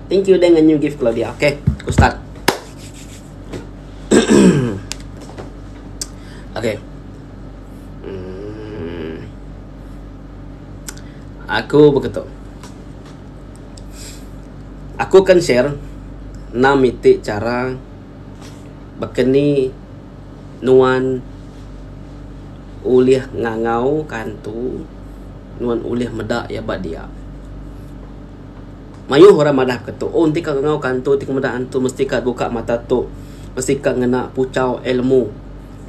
Thank you dengan new gift kalau dia. Okay, aku start. okay. Hmm. Aku begitu. Aku akan share enam miti cara berkeni nuan ulih ngangau kantu nuan ulih meda ya ba dia. Mayuh orang madah ke tu, oh enti ka ngau ka antu, enti ka meda antu mesti ka buka mata tu, mesti ka ngena puchau ilmu.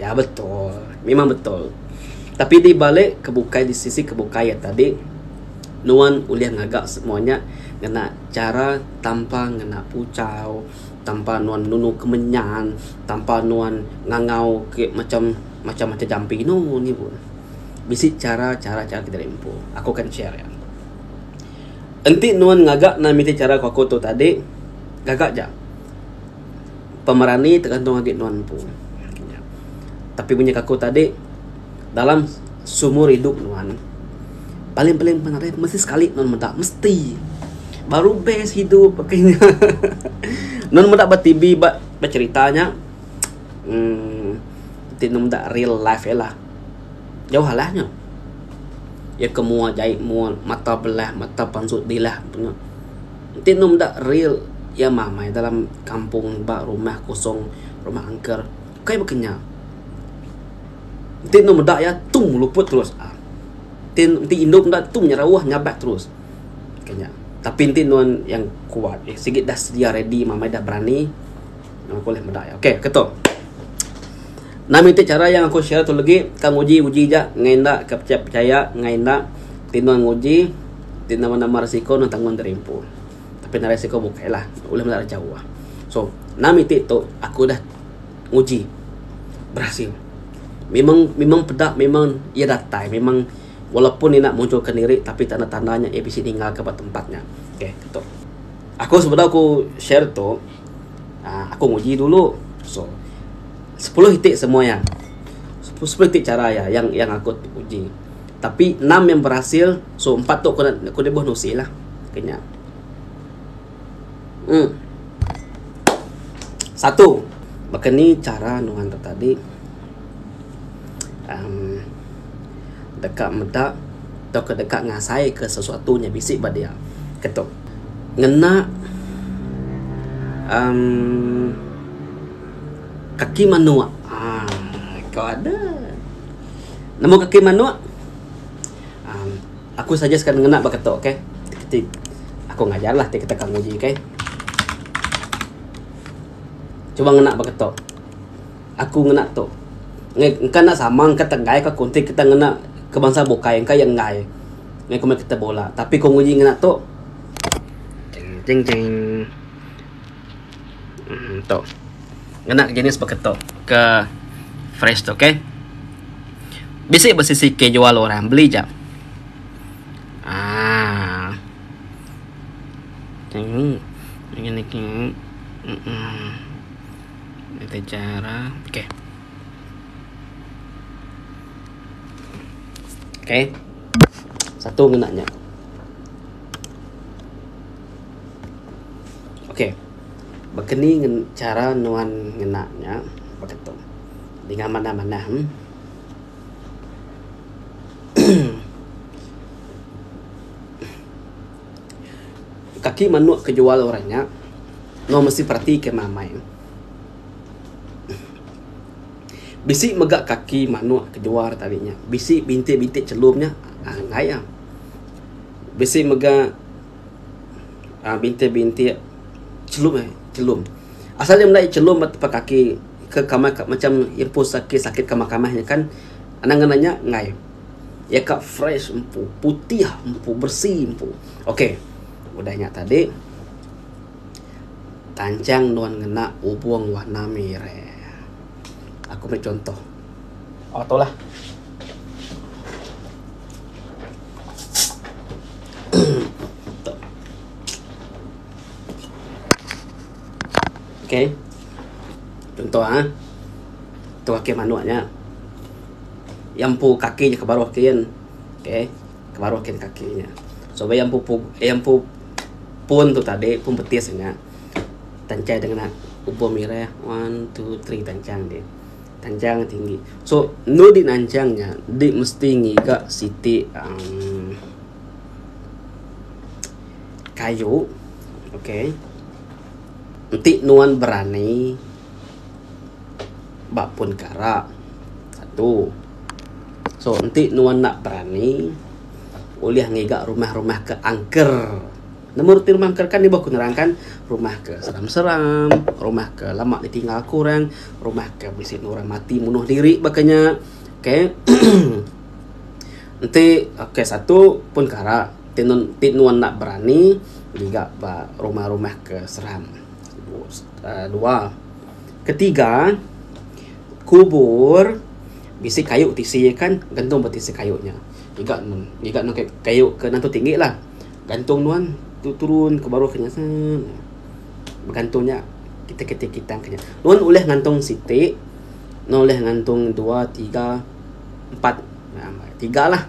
Ya betul, memang betul. Tapi di balik ke bukai di sisi ke bukai iya tadi, nuan ulih ngaga semua nya ngena chara tanpa ngena puchau, tanpa nuan nunu kemenyan, tanpa nuan ngangau ke macam macam macam jampi. No, inu nya bisi chara chara chara ti diri empu. Aku akan share ya. Enti nuan ngaga nan miti chara ku aku tu tadi, gaga aja. Pemerani tergantung agi nuan empu. Tapi mung aja ku aku tadi, dalam seumur idup nuan, paling-paling nuan nadai mesti sekali nuan meda, mesti. Baru best idup aku inya. Nuan meda ba TV, ba cherita nya, uhh enti nuan meda real life iya lah. Jauh alah nya. Iya ke mua jai mua mata belah mata pansut dilah empu nya. Enti enu meda real iya mamai dalam kampung ba rumah kosong rumah angker kai baka nya. Enti enu meda iya tung luput terus aa. Enti enti indu meda iya tung nyerauh nyabat terus. Kanya. Tapi enti nuan yang kuat sigi dah sedia ready mamai dah berani. Nang aku leh meda iya. Okey, ketu. Nah miti cara yang aku share tu lagi, ka nguji uji ja ngai enda ka pecaya pecaya ngai enda tino nguji ti nama-nama risiko nang tanggung diri empu. Tapi narai risiko bukai lah ulih meda ira jauh. So, nah miti tu aku dah nguji berhasil. Memang memang peda memang iya datai memang walaupun iya enda munculkan diri tapi tanda-tanda nya iya bisi ninggalka ba tempat nya. Okey, ketu. Aku sebedau aku share tu uhh aku nguji dulu so sepuluh iti semua iya sepuluh iti chara iya yang yang aku uji tapi enam yang berasil so empat tu ku debeh nusi lah ke nya uhh satu baka ni chara nuan tu tadi uhh deka meda tauka deka ngasaika sesuatu nya bisi ba dia keto ngena uhh kaki manok uhh ko adeh nemu kaki manok uhh aku suggest ka ne ngena ba keto okay ti aku ngajar la ti keto ka nguji okay cuba ngena ba keto. Aku ngena tu. Ngai engka enda sama engka tegai ka aku enti kita ngena ke bansa bukai engka iya enggai ngai komit kita bola tapi ku nguji ngena tu jing jing jing um tu ngena jenis baka tu ke fresh tu okey bisi besi sikit jual orang beli jap ah jing jing jing Kita cara. Okey. Okey. Satu kena nya. Okey. Bekeni ngen cara nuan ngena nya baka tu. Dinga manah-manah. Hmm. Kaki manuk ke jual orang nya Nau mesti perati kemah amai ne. Bisi mega kaki manuk ke jual tadi nya. Bisi bintik bintik chelum nya uhh enggai ah. Bisi mega uhh bintik bintik chelum eh chelum. Asal iya meda chelum ba tempat kaki ke kamih ka macam impus sakit sakit kamih kamih nya kan. Anang ngena nya enggai. Iya ka fresh empu, putih empu, beresi empu. Okey. Udah nya tadi tanchang nuan ngena ubung warna mireh. Aku meri chuntoh. Oh tu lah. Okay. Contoh ha. Tu kaki manuk nya. Iya empu kaki nya ke baruh kin. Okay. Ke baruh kin kaki nya. So iya empu pu iya empu pun tu tadi, pun betis nya. Tanchai deh ngena ubo mireh. One, two, three tanchang dih. Tanchang dih tinggi. So, enu dih nanchang nya, dih mesti ngiga siti uhh. kayu ok enti nuan berani ba pun kara satu so enti nuan enda berani ulih ngiga rumah rumah ke angker nemu reti rumah angker kan ibuh ku nerangkan rumah ke seram seram rumah ke lama di tinggal ku orang rumah ke bisi enda orang mati munuh diri ba ke nya ok enti ok satu pun kara. Ti nun ti nuan enda berani ngiga ba rumah-rumah ke seram. Dua. Ketiga, kubur bisi kayu tisi iya kan gantung ba tisi kayu nya. Ngiga ngiga nang kayu kayu ke nang tu tinggi lah. Gantung nuan tu turun ke baruh nya seh. Begantung nya kitai kitai kitang ke nya. Nuan ulih ngantung siti, nuan ulih ngantung dua, tiga, empat. Tiga lah.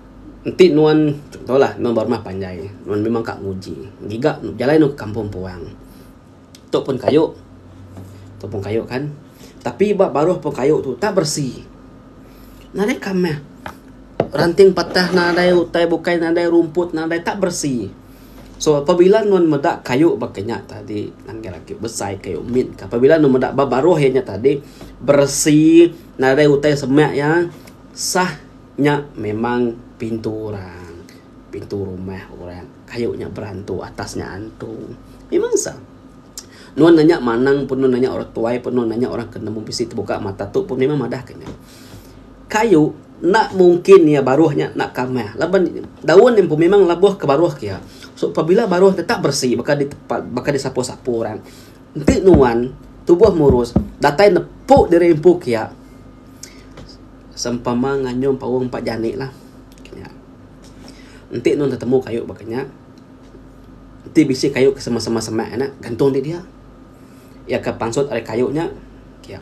Enti nuan contohlah nuan ba rumah panjai nuan memang ka nguji ngiga jalai nuan ke kampung puang tu pun kayu tu pun kayu kan tapi ba baruh pun kayu tu tak beresi nadai ka meh ranting patah nadai utai bukai nadai rumput nadai tak beresi so pabila nuan meda kayu ba kinya tadi panggil agi besai kayu mit ka pabila nuan meda ba baruh inya tadi beresi nadai utai semek iya sah. Nya memang pintu orang, pintu rumah orang kayu nya berantu atas nya antu. Memang sah. Nuan nanya manang pun nuan nanya orang tuai pun nuan nanya orang ke nemu bisi tebuka mata tu pun memang madah ke nya. Kayu enda mungkin iya baruh nya enda kamah laban daun nya pun memang lebuh ke baruh ke iya. So pabila baruh tetap bersih baka di tempat baka di sapu-sapu orang enti nuan tubuh murus datai nepu diri empu ke iya. Sempama nganyum paung empat jani lah. Kenya. Enti nun tetemu kayu baka nya, enti bisi kayu ke sema-sema semak nya gantung indi dia. Iya ke pansut ari kayu nya. Kya.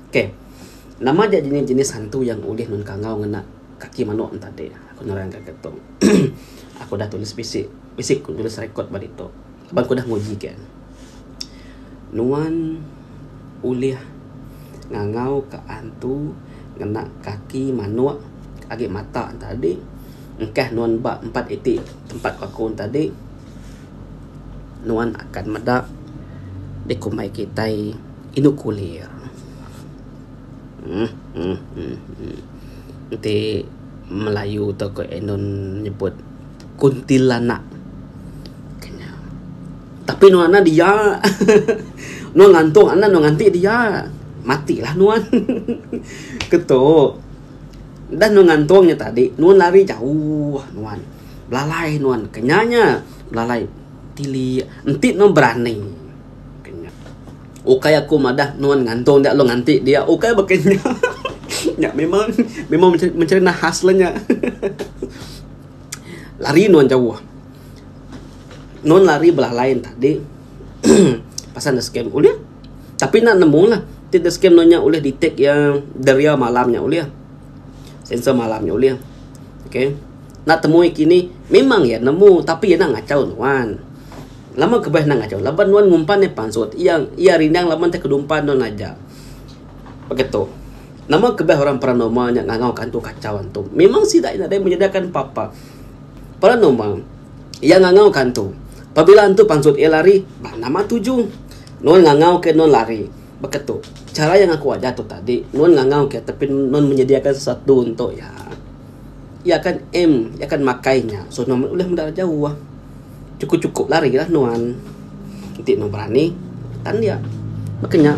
Ok. Nama ja jenis-jenis hantu yang ulih nun kangau ngena kaki manok enti ade. Aku nerang ka ke tu. Aku udah tulis bisi. Bisi ku nulis record ba ditu. Ba ku udah nguji ke nuan ulih ngangau ka antu ngena kaki manok agi mata ne tadi engkah nuan ba empat iti tempat ku aku ne tadi nuan akan meda dikumbai kitai indu kulir uhh uhh uhh uhh enti melayu tok indon nyebut. kuntilanak. Kena. Tapi nuan anak dia. nuan ngantung anak nuan nganti dia. Matilah nuan. Ketuk. Dah nuan ngantung nya tadi, nuan lari jauh nuan. Belalai nuan. Kena nya. Belalai tili. Enti nuan berani. Kena. Ukai aku madah nuan ngantung dia lalu nganti dia. Ukai baka nya. nya memang memang mencerita khas lah nya. Lari nuan jauh. Nuan lari belah lain tadi. Pasal enda scam. Ulih. Tapi nak nemu lah. Ti enda scam nuan nya ulih detect ya deria malam nya ulih. Sensor malam nya ulih. Okay. Nak temui kini, memang ya nemu. Tapi ya nak ngacau nuan. Lama kebah nak ngacau. Laban nuan ngumpan ya pansut. Ya, ya rindang laban te kedumpan nuan aja. Baka tu, nama kebah orang paranormal nya ngangauka antu kachau antu? Memang sida iya nadai menyediakan papa. Paranormal iya ngangauka antu. Pabila antu pansut iya lari, bah nama tuju nuan ngangauka nuan lari? Baka tu, chara iya ngaku aja tu tadi, nuan ngangauka iya tapi nuan menyediakan sesuatu entu iya. Iya akan aim, iya akan makai nya. So nuan meh ulih meda jauh. Cukup cukup lari lah nuan. Enti nuan berani tan dia. Baka nya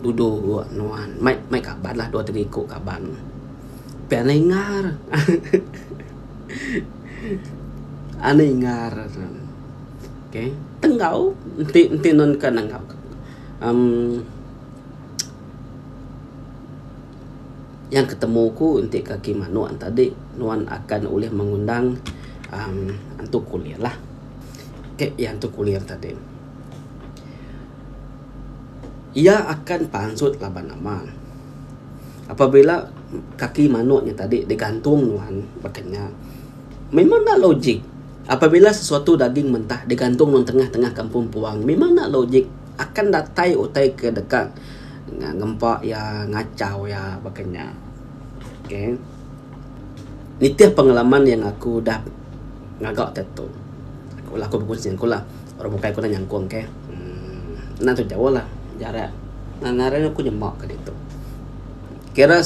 dudu nuan mai mai kaban lah dua tiga iku kaban. Pia anu ingar. Anu ingar okay tenggau enti enti nuan ka nengau uhh Yang ketemu aku enti kaki manok enta adi nuan akan ulih mengundang uhh antu kulir lah. Ke iya antu kulir tadi. Iya akan pansut laban nama. Apabila kaki manok nya tadi digantung nuan baka nya memang enda logik. Apabila sesuatu daging mentah digantung nuan tengah tengah kampung puang memang enda logik. Akan datai utai ke deka ngempa iya, ngachau iya baka nya. Okay. Nitih pengalaman yang aku udah ngaga ti tu. Aku laku begunsi ngaku lah. Orang bukai aku dah nyangkong ke. uhh Enda antu jauh lah jarak ne. Ngaran ne aku nyema ka ditu. Kira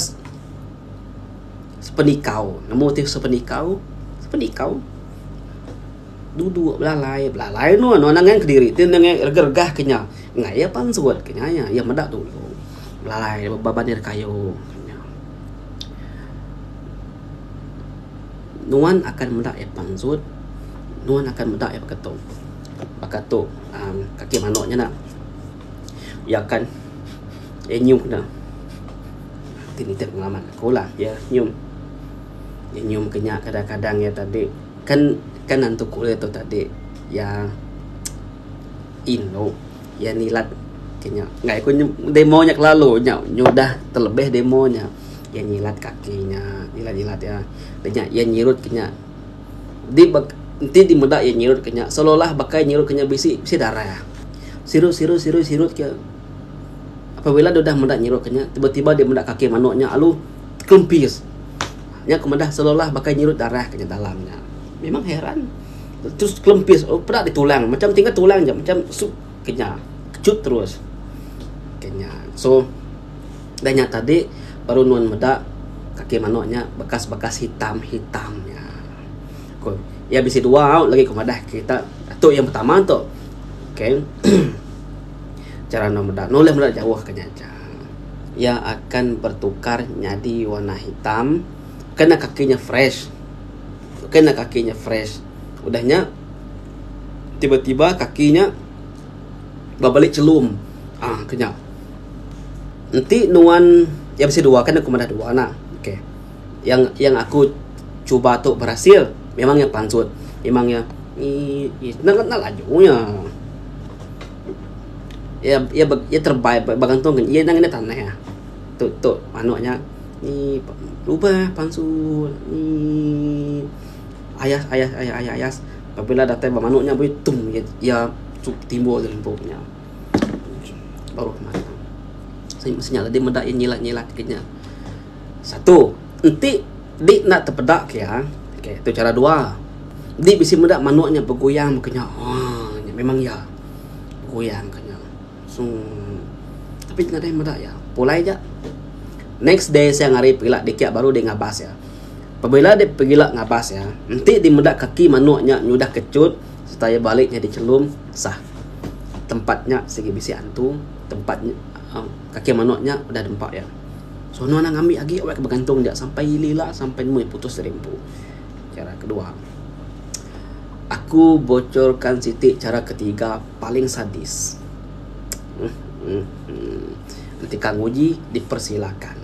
sepenikau. Nemu ti sepenikau? Sepenikau. Duduk belalai, belalai anu anu anang ngan kediri ti enda ngai regah-regah ke nya. Ngai iya pansut ke nya iya. Iya meda dulu. Belalai ba banir kayu ke nya. Nuan akan meda iya pansut, nuan akan meda iya baka tu. Baka tu uhh kaki manuk nya enda. Iya akan iya nyiup enda. Ti nitih pengaman aku lah. Iya nyium. Iya nyium ke nya kadang-kadang iya tadi. Kan kan antu ku dia tu tadi iya indu iya nilat ke nya ngagai ku demo nya kelalu nya nyudah telebih demo nya iya nyilat kaki nya nyilat nyilat iya da nya iya nyirut ke nya di ba enti di meda iya nyirut ke nya seolah olah baka iya nyirut ke nya bisi bisi darah sirut sirut sirut sirut ke apabila deh udah meda nyirut ke nya tiba tiba deh meda kaki manuk nya alu kempis. Nya ku meda selolah baka nyirut darah ke nya dalam nya. Memang heran. Terus kelempis oh, peda di tulang. Macam tinggal tulang je macam sup ke nya. Kecut terus. Ke nya. So dah nya tadi baru nuan meda kaki manok nya bekas-bekas hitam-hitam nya. Ko ya bisi dua au lagi ku madah kita tu yang pertama tu. Okay. Cara nuan meda. Nuan meda jauh ke nya. iya akan bertukar nyadi warna hitam kena kaki nya fresh kena kaki nya fresh udah nya tiba-tiba kaki nya ba beli chelum aaa ku nya enti nuan iya bisi dua kan aku madah dua nah okay yang yang aku cuba tu berhasil memang iya pansut memang iya ii ii enda laju nya. Iya iya iya terebai begantung ngin iya ngena tanah iya. Tu tu panu nya emm lubeh palsu emm ayas ayas ayas ayas ayas pabila datai ba manu nya buleh tum iya timbul da lempung nya. Baru meh nya. Sida meda iya nyilat nyilat gin nya. Satu, enti di enda tepeda ke iya, okay, tu chara dua. Di bisi meda manuk nya beguyang mega nya. Haa nya memang iya. Beguyang mega nya. Sung. Tapi nya nadai meda iya. Pulai aja. Next day siang hari pegila dikit baru deh ngabas iya. Pebila deh pegila ngabas iya, enti di meda kaki manuk nya nyudah kechut serta iya balik nyadi chelum, sah. Tempat nya sigi bisi antu, tempat nya, kaki manuk nya udah nempa iya. Sono anang ami agi weh ke begantung dia sampai ili ila sampai meh putus dari empu. Chara kedua aku bocor kan siti chara ketiga paling sadis uhh enti ka nguji dipersilakan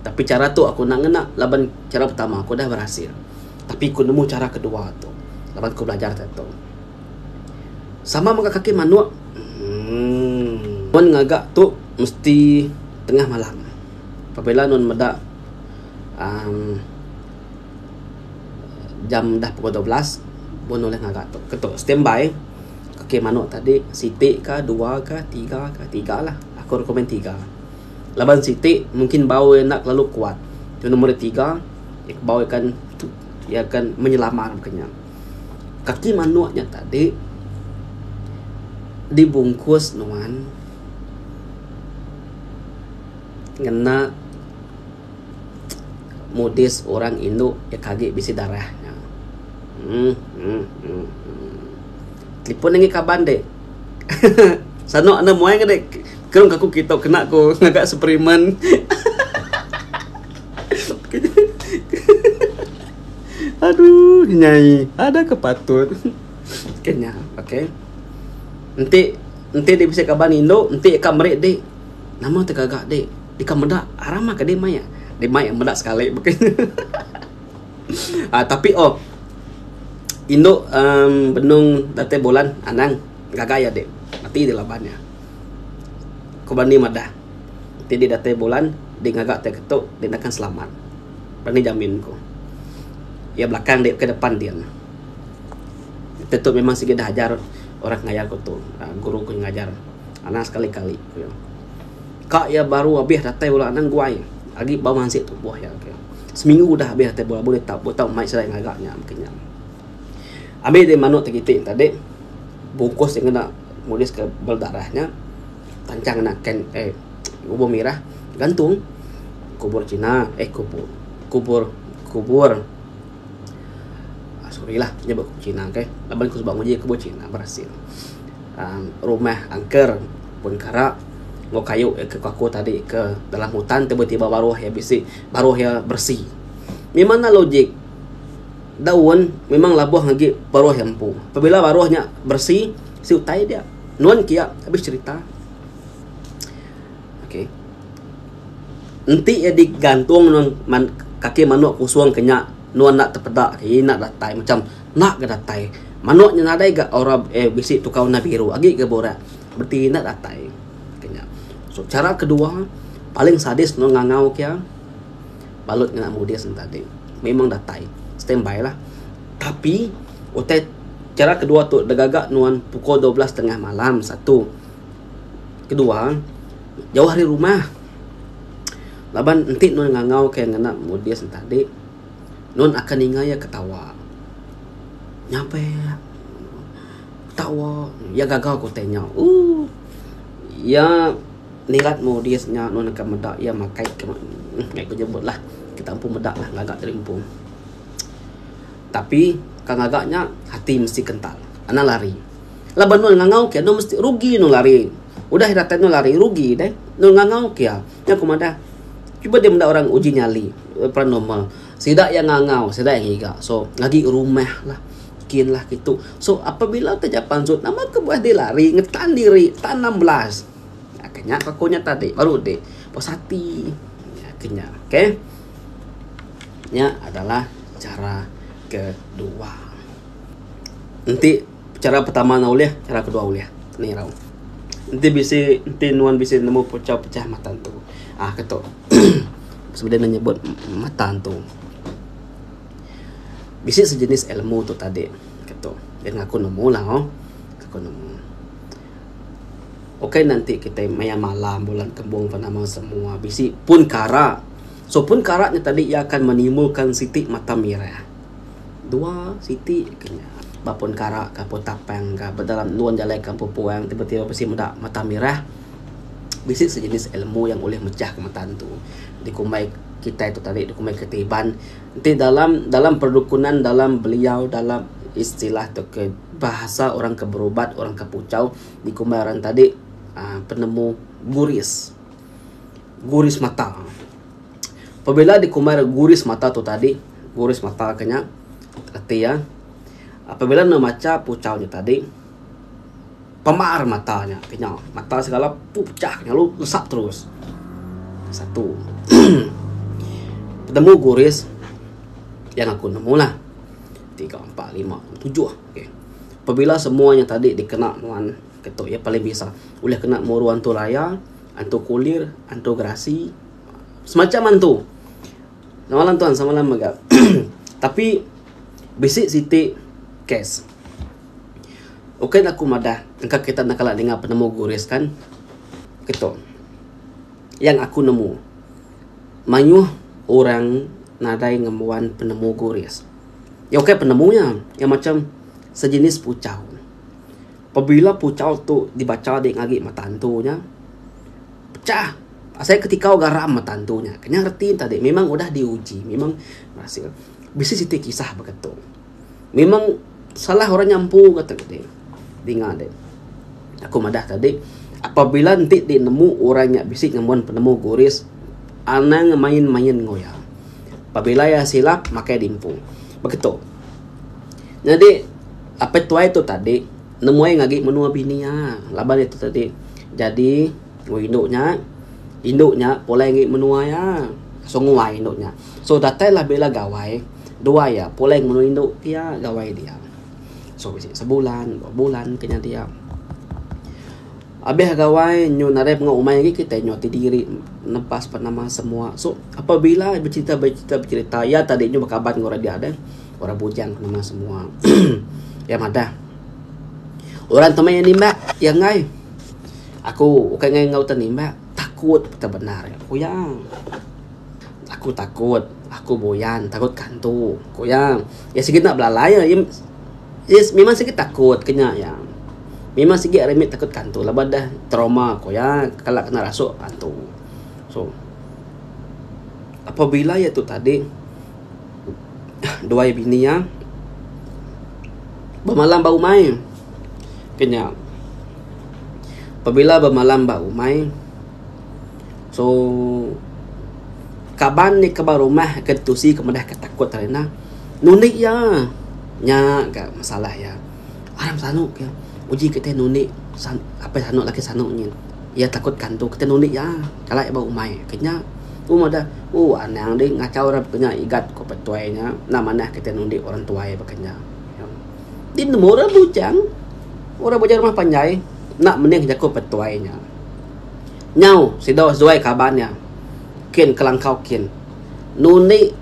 tapi chara tu aku enda ngena laban chara pertama aku dah berhasil tapi ku nemu chara kedua tu laban ku belajar tok tok. Sama mega kaki manok. Umm. Nuan ngaga tu mesti tengah malam. Pabila nuan meda amm jam dah pukul dua belas pun ulih ngaga tu. Ke tu standby kaki manok tadi siti ka dua ka tiga ka. Tiga lah. Aku recommend tiga. Laban siti mungkin bau iya enda terlalu kuat. Tau nombor tiga bau iya akan menyelamat inya. Kaki manuk nya tadi dibungkus nuan ngena modis orang indu da kagi bisi darah nya. Emm emm emm emm telefon nengih kaban deh hehe sanu anu mui ngudi kau ngaku kitu kena ku ngaga suplemen hehehe. Aduh nyai ada ke patut ke nya ok enti enti dik bisi kaban indu enti ka meri dik nama ti gaga dik dik ka meda ramah ke dik maya dik maya meda sekali beken ah tapi oh indu uhh benung datai bulan anang gaga iya dik mati dik laban iya ku berani madah ti dik datai bulan dik ngaga tai keto dik nakan selamat. Panggil Jamin ku. Iya belakang dek ke depan din. Enti tu memang sigi dah ajar orang ngajar aku tu. Guru ku ngajar anang sekali kali ku iya. Ka iya baru abih datai bala anang guai agi bau mansik tubuh iya ke. Seminggu udah abih datai bala bulih tau tau mai serai ngaga nya mungkin nya. Ami ti manok ti kiti tadi bungkus ti ngena nulis ke bala darah nya panjang ngena can eh Kubur mirah gantung kubur Cina eh kubur kubur kubur ah, sorry lah nyebut kubur Cina okay. Laban aku sebab nguji kubur Cina berhasil. Um, rumah angker pun kara ngau kayu ke kaku tadi ke dalam hutan tiba-tiba baruh ya bisi baruh ya bersih. Memang nak logik daun memang labuh ngagi baruh yang empu. Pabila baruhnya bersih, si utai dia. Nuan kia habis cerita. Okey. Enti iya digantung nuan man kaki manok kusong ke nya nuan enda tepeda ke iya enda datai macam enda ga datai. Manok nya nadai ga aura eh bisi tukar warna biru agi ga burak bereti enda datai ke nya. So chara kedua paling sadis nuan ngangau ke iya balut ngena mudis nya tadi memang datai standby lah. Tapi utai chara kedua tu da gaga nuan pukul dua belas tengah malam satu. Kedua, jauh ari rumah. Laban enti nuan ngangau ke ngena modis enta adi, nuan akan ninga iya ketawa. Nyape ketawa iya gaga ku te nyau. Ooh iya nirat modis nya nuan akan meda iya makai ke meh ku nyebut lah kita empu meda lah ngaga diri empu. Tapi kan ngaga nya ati mesti kental. Anang lari. Laban nul ngangau ke nul mesti rugi nul ari. Udah ira tai nul ari rugi deh. Nul ngangau ke nya ku madah. Cuba dia menda orang uji nyali paranormal. Sida iya ngangau sida iya ngiga. So agi rumah lah kin lah kitu. So apabila ke ja pansut nama ke buah diri lari ngetan diri tan enam belas. Nya ke nya ke aku nya tadi baru udi puas ati. Nya ke nya okay. Nya adalah cara kedua. Enti chara pertama ne ulih, chara kedua ulih. Nih irau. Enti bisi, enti nuan bisi nemu pechau pecah mata entu uhh ke tu. Semina ne nyebut mata entu. Bisi sejenis ilmu tu tadi ke tu. Deh ngaku nemu lah uhh. Ngaku nemu. Ukai ne enti kitai maya malam bulan kembung ke nama semua bisi pun kara. So pun kara nya tadi iya akan menimbulkan siti mata mirah. Dua siti ke nya ba pun kara ka pun tapang ka ba dalam endur jalai kampung puang tiba tiba bisi meda mata mirah bisi sejenis ilmu yang ulih mechah ka mata entu dikumbai kitai tu tadi dikumbai ketiban ti dalam dalam perdukunan dalam beliau dalam istilah tu ke bahasa orang ke berubat orang ke puchau dikumbai orang tadi aaa penemu guris guris mata. Pabila dikumbai ira guris mata tu tadi, guris mata ke nya reti iya apabila ne macha puchau nya tadi pemar mata nya ke nya mata segala puchak lalu nesap terus. Satu penemu guris yang aku nemu lah. Tiga, empat, lima, enam, tujuh. Okay. Pabila semua nya tadi dikena nuan ketu iya paling bisa ulih kena muru antu raya Antu kulir, antu gerasi, semacham antu. Samalam tuan, samalam mega. Tapi bisi siti kes. Ukai ne aku madah engka kita enda kala ninga penemu guris kan. Keto. Yang aku nemu mayuh orang nadai ngembuan penemu guris. Ukai penemu nya, iya macham sejenis puchau. Pabila puchau tu dibacha dik ngagi mata antu nya, pechah asai ketikau garam mata antu nya. Kenyang reti enta dik memang udah diuji memang berhasil. Bisi siti kisah baka tu. Memang salah orang nya empu ka tu dik. Dinga dik. Aku madah ka dik apabila enti dik nemu orang nya bisi ngembuan penemu guris anang main main enggau iya. Pabila iya silap makai dimpu. Baka tu. Nyadi Apai tuai tu tadi nemuai agi nya menua bini iya laban iya tu tadi jadi wang indu nya indu nya pulai agi menua iya sunguai indu nya so datai lah bila gawai dua iya pulai ngan indu iya gawai dia so sebulan dua bulan kena dia. Abih gawai nyu nadai mengau umai agi kitai nyu ati diri nebas pan nama semua. So apabila becerita becerita becerita iya tadi nyu bekaban enggau orang dia deh. Orang bujang pan nama semua. Iya madah. Orang temai iya nimba iya enggai. Aku ukai enggai enggau ita nimba takut ita bendar iya ku iya. Aku takut aku buyan takut kantu ku iya. Iya sigi enda belalai iya. Yes memang sigi takut ke nya iya. Memang sigi ari ami takut ke hantu laban deh trauma ku iya kala kena rasuk hantu. So apabila iya tu tadi dua iya bini iya bemalam ba umai ke nya. Pabila bemalam ba umai. So kaban nya ke ba rumah ke tusi ke meda ke takut tadi ina ngundi iya. Nya ga masalah iya. Aram sanu ke uji ke tai ngundi apai sanu laki sanu nyin iya takut kantu kitai ngundi iya kala iya ba umai ke nya. Ku meh adeh ooh anang deh ngachau arap ke nya igat ku petuai nya enda manah kitai ngundi orang tuai ba ke nya. Ti nemu orang bujang orang bujang rumah panjai enda mening jaku petuai nya. Nyau sida zuai kaban iya, kin kelangkau kin. Nundi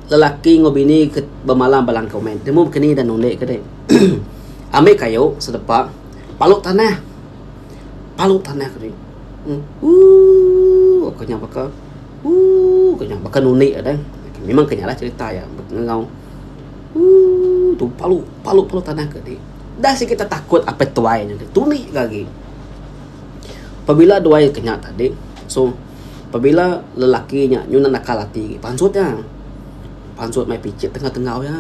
lelaki enggau bini ke bemalam ba langkau meh timu baka ni ida nundi ke deh. Ambi kayu sedepa palu tanah. Palu tanah ke deh. Ooh ko nya baka ooh ko nya baka nundi iya deh. Memang ke nya lah cerita iya enggau ooh tu palu palu palu tanah ke deh. Dah sikit tetakut apai tuai nya deh. Tundi ke agi. Pabila duai ke nya tadi so pabila lelaki nya nyunan nakal ati pansut iya. Pansut mai pichit tengah tenggau iya.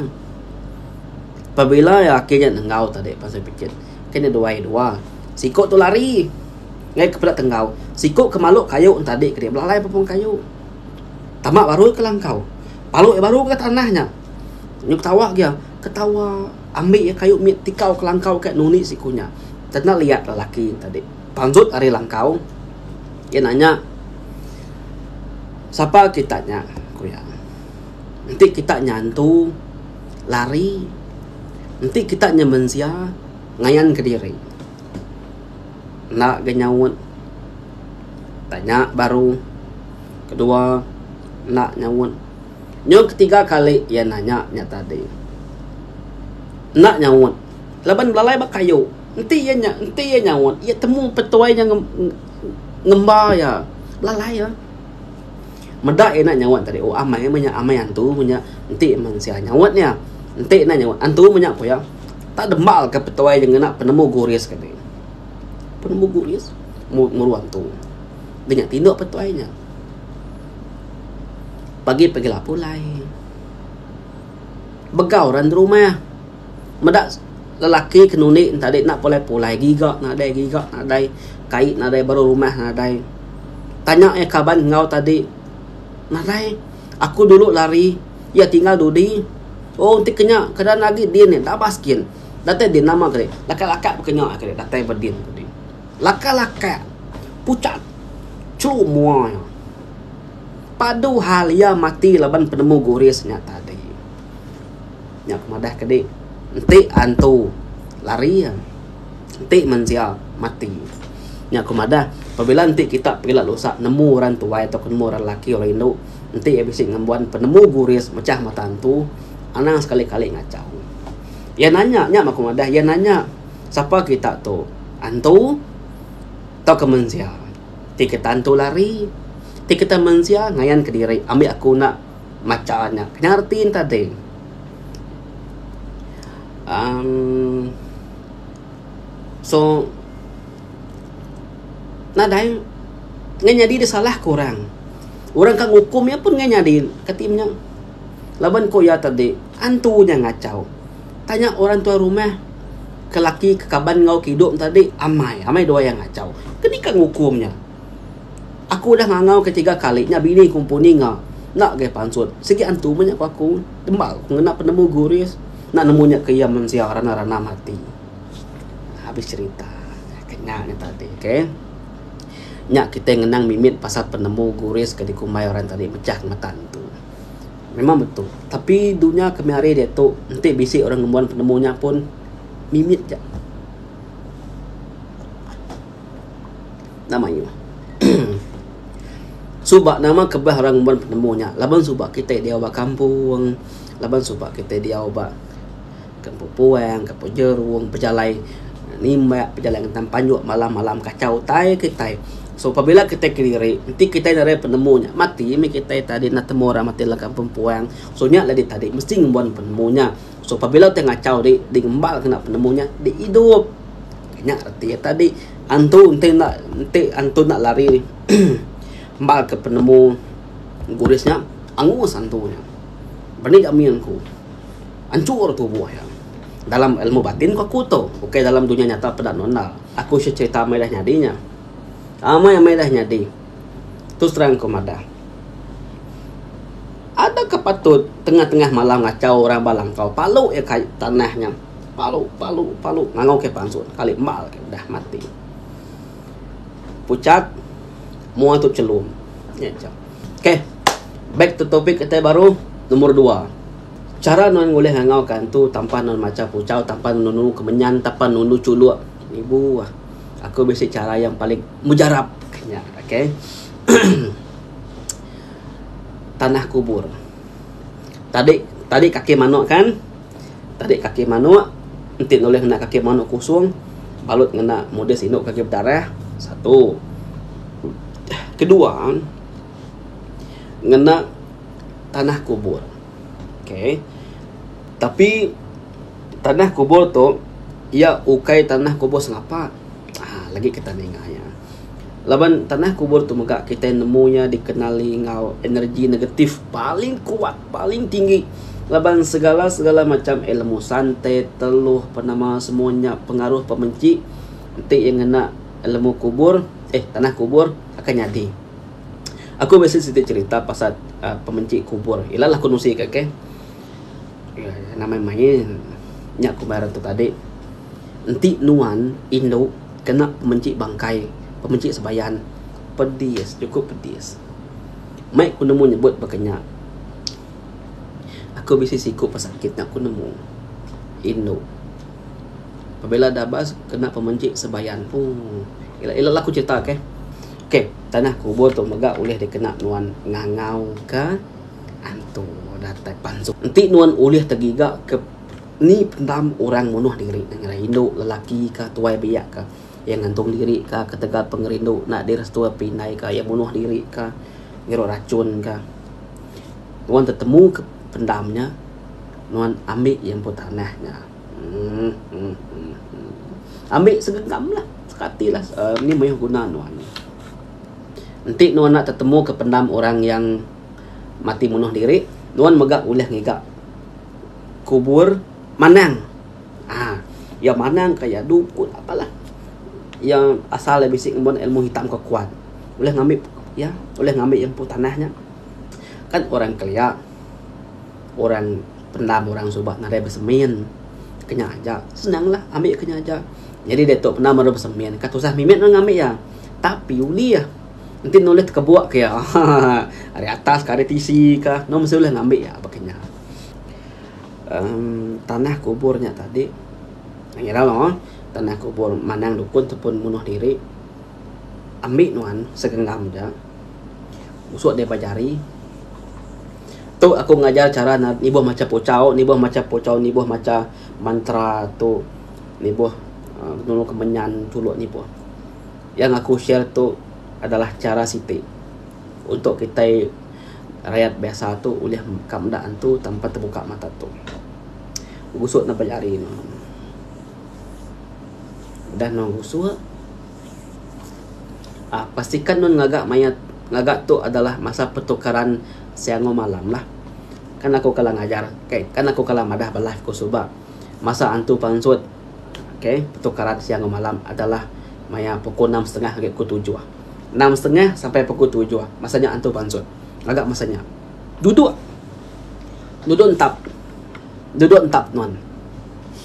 Pabila lelaki nya nenggau tadi pansut mai pichit kan iya duai dua siku tu lari ngei ke peda tenggau siku ke malu kayu tadi kadi belalai pepun kayu tama barui ke langkau palu iya baru ke tanah nya nyuk tawa ke iya ketawa. Ambi iya kayu mit tikau ke langkau ka nuni siku nya. Tena liat lelaki nya tadi. Panjut ari langkau. Iya nanya, Sapa kita nya? ku iya. Enti kita nya antu, lari. Enti kita nya mensia, ngayan ke diri. Enda ga nyaut. Tanya baru. Kedua, enda nyaut. Nyau ketiga kali iya nanya nya tadi. Enda nyaut. Laban belalai ba kayu. Enti iya nya, enti iya nyaut, iya temu petuai nya ngemba iya. Belalai iya. Meda iya enda nyaut tadi. Oh, amai meh nya. Amai antu meh nya. Enti mensia nyaut nya. Enti enda nyaut. Antu meh nya, ku iya. Tak dembalka petuai nya ngena penemu guris kadi. Penemu guris? Muru antu. Deh nya tinduk petuai nya. Pagi pagi lapu lai. Begau ra nda rumah. Meda lelaki ke nundi ne tadi enda pulai pulai giga nadai giga nadai kai nadai baru rumah nadai. Tanya iya kaban enggau tadi nadai aku dulu lari iya tinggal dudi. Oh ti kinya keadaan agi din nya enda bas gin. Datai din nama kadi lakat lakat pekanya datai ba din. Laka laka pucat chlu mua iya. Padu hal iya mati laban penemu guris nya tadi. Nya ke madah kedi enti antu lari enti mensia mati. Nya ku madah pabila enti kita pila lusa nemu orang tuai tauka nemu orang laki orang indu enti iya bisi ngembuan penemu guris mechah mata antu anang sekali kali ngachau. Iya nanya nya maku madah iya nanya sapa kita tu. antu tauka mensia ti ke tantu lari ti kita mensia ngayan kediri ambi aku enda macha nya nya reti enta ti um so nadai nya nyadi da salah ku orang orang ke ngukum iya pun nya nyadi kati nya laban ku iya tadi antu nya ngachau tanya orang tuai rumah Ke laki ke kaban enggau ke idup enta dik amai amai dua iya ngachau ke nika ngukum nya aku udah ngangau ke tiga kali nya bini ku empu ninga enda agai pansut sigi antu meh nya ku aku temba ku ngena penemu guris enda nemu nya ke iya mensia rana ranam ati habis cerita ke nya nya tadi ok nya kitai ngenang mimit pasal penemu guris ke dikumbai orang tadi mechah ngemeta entu. Memang betul. Tapi dunya kami ari diatu enti bisi orang ngembuan penemu nya pun mimit ja. Enda mayuh. Suba nama kebah orang ngembuan penemu nya laban suba kitai diau ba kampung, laban suba kitai diau ba. Ke empu puang, ke empu jerung, pejalai nimbak, pejalai ngentang panjuk malam-malam kachau utai kitai. So pabila kitai kediri, enti kitai nadai penemu nya, mati mih kitai tadi enda temu orang mati dalam kampung puang. So nya lah tadi mesti ngembuan penemu nya. So pabila utai ngachau ri, di ngemba lalu kena penemu nya, di idup. Nya reti iya tadi. Antu enti enda, enti antu enda lari nembalka penemu English nya, angus antu nya. Bani gamin ku. Anchur tubuh iya. Dalam ilmu batin ku aku tu, ukai dalam dunya nyata peda enda enda. Aku isha cherita amai dah nyadi nya. Amai amai dah nyadi. Tu serang ku madah. Adaka patut tengah tengah malam ngachau orang ba langkau palu iya kai tanah nya. Palu palu palu ngangau kai pansu kali embal kai udah mati. Puchat mua tu chelum. Nya chap. Okay. Back to topic kitai baru. Number dua. Chara nuan ngulih ngangau ka entu tampa nuan macha puchau tampa nunu kemenyan tampa nunu chulok ibu ah aku bisi chara yang paling mujarap ka nya okay tanah kubur tadi tadi kaki manok kan tadi kaki manok enti nulih ngena kaki manok kusong balut ngena modis indu ke agi bedarah satu kedua ngena tanah kubur. Okay. Tapi, tanah kubur tu, ia ukai tanah kubur sengapa. Ha, lagi kitai ninga iya. Laban tanah kubur tu mega kitai nemu iya dikenali enggau energi negatif paling kuat, paling tinggi. Laban segala-segala macam ilmu santet, teluh, apa nama semua nya pengaruh pemenchi enti iya ngena ilmu kubur, eh tanah kubur akan nyadi. Aku bisi siti cerita pasal uhh pementi kubur. Ila lah aku nusi ka keh. Nama mayuh nya aku meh rantau tadi. Enti nuan indu kena pementi bangkai, pementi sembayan, pedis chukup pedis. Meh ku nemu nyebut baka nya. Aku bisi siku pesakit nya ku nemu indu pabila dah bas kena pementi sembayan. Ooh. Ila lah aku cerita keh. Ok, tanah kubur tu mega ulih dikena nuan ngangau ke antu datai pansu. Enti nuan ulih tegiga ke ni pendam orang munuh diri ne ngagai indu, lelaki ka, tuai biak ka, iya ngantung diri ka ketegal pengerindu enda direstui api indai ka, iya munuh diri ka, ngirup rachun ka. Nuan tetemu ke pendam nya, nuan ambi iya empu tanah nya. Ambi segenggam lah. Sekati lah. Um, ni mayuh guna nuan. Enti nuan nak tetemu ke pendam orang yang mati munuh diri, nuan mega ulih ngiga kubur manang. Ah, ya manang ka ya dukun apa lah. Ya asal ya bisi ngembuan ilmu hitam ke kuat. Ulih ngambi ya, ulih ngambi ya empu tanah nya. Kan orang kelia. Orang pendam orang suba nadai besemin ke nyaja senanglah ambi ke nyaja nyadi diatu pendam baru besemin ka tusah mimit orang ambi iya tapi ulih enti ne ulih tekebuk ke iya ahaha ari atas ka ari tisi ka anu mesti ulih ngambi iya aba kinya uhh tanah kubur nya tadi ngira mah tanah kubur manang dukun ataupun munuh diri ambi nuan segenggam ja tusuk daripada jari. Tu aku ngajar chara nibuh macha puchau, nibuh macha puchau, nibuh macha mantra tu nibuh nulung aku menyan chulu nibuh. Yang aku share tu adalah chara siti untuk kitai rayat biasa tu ulih ka meda antu tanpa tebuka mata tu. Gusuk ne bejari ne. Udah ne gusuk. Ah pastikan nuan ngaga maya ngaga tu adalah masa pertukaran siangu malam lah. Kan aku kala ngajar okay kan aku kala madah ba live ku suba masa antu pansut okay pertukaran siangu malam adalah maya pukul enam setengah ngagai pukul tujuh. Enam setengah sampai pukul tujuh masa nya antu pansut. Ngaga masa nya duduk duduk entap duduk entap nuan.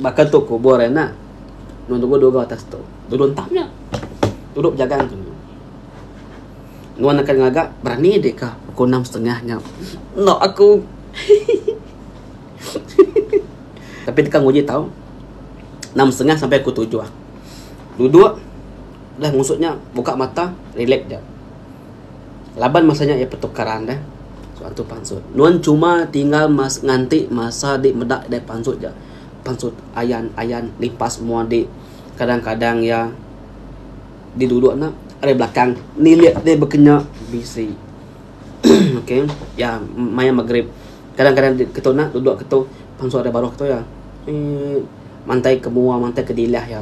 Baka tu kubur iya enda. Nuan tubuh dua ga atas tu. Duduk entap nya. Duduk bejagang tu nya. Nuan akan ngaga berani dik ka pukul enam setengah nya. Enda aku. Tapi teka nguji tau. Enam setengah sampai pukul tujuh. Duduk. Dah ngusut nya. Buka mata. Relax ja. Laban masa nya iya petukaran deh satu pansut. Nuan cuma tinggal mas nganti masa di meda deh pansut ja. Pansut ayan ayan lipas mua di kadang kadang iya di dudok nya ari belakang nilik deh bekenya bisi. okay iya maya magrib kadang kadang ketu nya dudok ketu pansut ari baruh ketu iya emm mantai ke mua mantai ke dilah iya.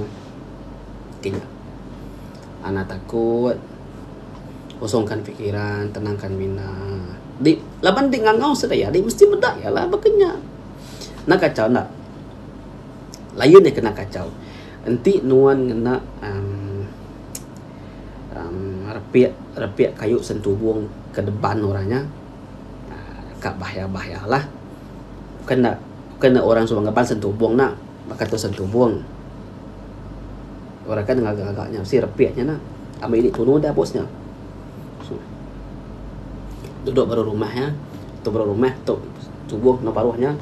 Okay nya. Anak takut. Kosongkan fikiran, tenangkan mina. Di laban di ngangau sida iya di mesti meda iya lah baka nya. Enda kachau enda. Lain iya kena kachau. Enti nuan ngena uhh uhh repek repek kayu sentubong ke deban orang nya uhh ka bahaya bahaya lah. Bukan enda bukan enda orang suba ngeban sentubong enda. Baka tu sentubung. Orang kan ngaga-ngaga nya mesti repit nya nah. Ambi indi tunu dah bos nya. Duduk baruh rumah nya. Tu baruh rumah tu tubuh enggau baruh nya.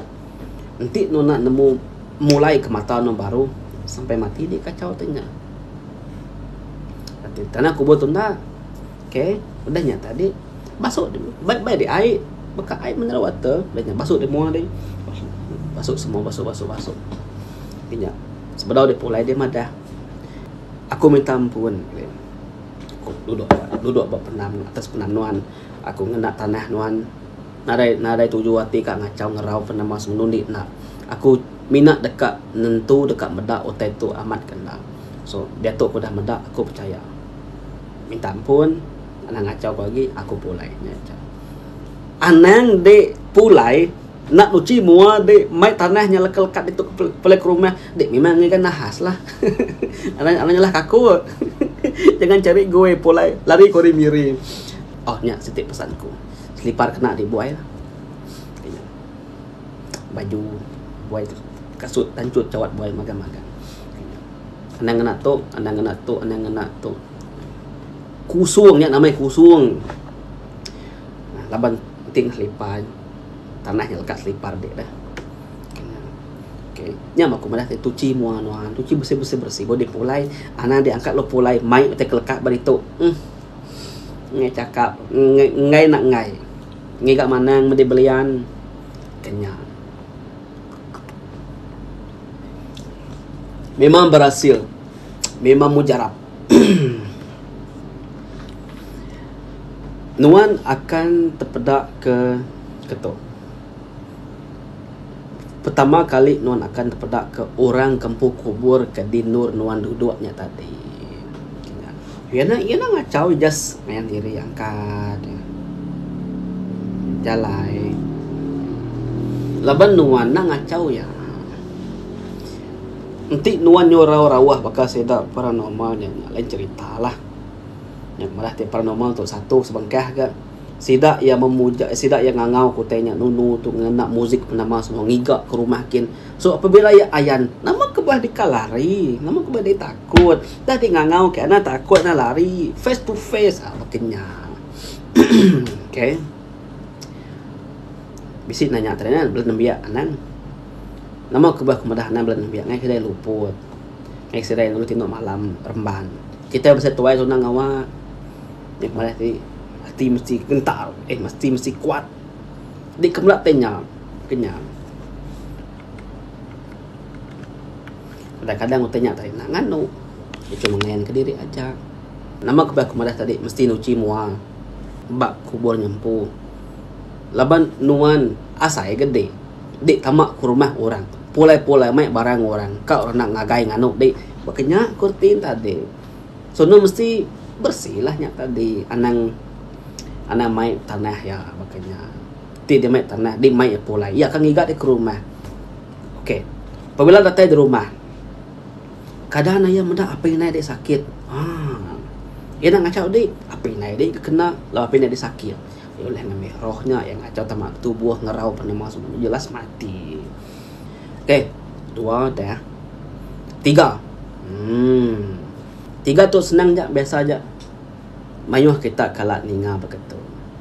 Enti enu enda nemu mulai ke mata enu baru sampai mati indi kacau ti nya. Tanah kubur tu enda. Ok udah nya tadi basuh dulu baik baik di air baka air mineral water udah nya basuh di mua di basuh semua basuh basuh basuh nya sebedau dia pulai dia madah aku minta ampun aku duduk duduk ba penam atas penam nuan aku ngena tanah nuan nadai nadai tuju ati ka ngachau ngerau ke nama semenu indi enda aku mina deka nentu deka meda utai tu amat ke enda so diatu aku dah meda aku pechaya. Minta ampun, anang ngachau ko agi aku pulai nya aja. Anang di pulai enda nuchi mua di mai tanah nya leka lekat ditu pulai ke rumah di memang ngiga nahas lah. Anang anang nyalah kaku. Jangan cari goi pulai lari ko ari miri. Oh nya siti pesan ku. Selipar kena di buai lah. Baju buai kasut tanchut chawat buai magang magang. Anang ngena tu, anang ngena tu, anang ngena tu. Kusung nya nama iya kusung. Ah, laban enting selipar tanah nya lekat selipar dik dah. Okay. Nya aku madah tadi tuchi mua nuan. Tuchi bersih-bersih bersih. Bodi pulai. Anang dik angkat lalu pulai. Mai utai ke lekat bari tu. Hmm. Ngai cakap. Ngai, ngai nak ngai. Ngiga manang medi belian. Kenyang. Memang berasil. Memang mujarab. Nuan akan tepeda ke keto. Pertama kali nuan akan tepeda ke orang ke empu kubur ke di endur nuan duduk nya tadi. Iya nya iya nya ngachau just ngayan diri angkat jalai laban nuan enda ngachau iya. Enti nuan nyurau rawah baka sida paranormal nya lain cerita lah. Nya madah ti paranormal tu satu sebengkah ga sida iya memuja sida iya ngangau ke utai nya nunu tu ngena muzik nama semua ngiga ke rumah kin. So apabila iya ayan, nama ke beulah deka lari? Nama ke beulah deka takut? Udah deh ngangau ke anak takut anak lari. Face to face ah baka nya. okay. Bisi nanya tadi kan, bela nembiak anang. Nama ke beulah kemedah anang bela nembiak ngai kedai luput. Ngai kedai dulu tino malam remban. Kita bisi tuai tunang ngawa. Nya kemedah ti, ati mesti gentar. Eh, ati mesti kuat. Di kemela te nya kenya. Kadang kadang utai nya tadi nak nganu. Dia cuma ngayan ke diri aja. Nama kubah aku madah tadi mesti nuchi mua. Bak kubur nya empu. Laban nuan asai gede. Di tama ke rumah orang. Pulai pulai mai barang orang. Ka orang nak ngagai nganu di. Ba kenya ku reti ne tadi. Sono mesti bersih lah nya tadi anang anang mai tanah iya baka nya ti deh mai tanah deh mai iya pulai iya akan ngiga deh ke rumah ok pabila datai di rumah kada anang iya meda apih inai deh sakit aaa iya enda ngacau deh apih inai deh ke kena lalu apih inai deh sakit iya ulih ngambi roh nya iya ngacau tama tubuh ngerau panu meh semua jelas mati. Okey, dua dah. Tiga. Hmm. Tiga tu senang je, biasa je. Mayuh kita kala ninga baka tu.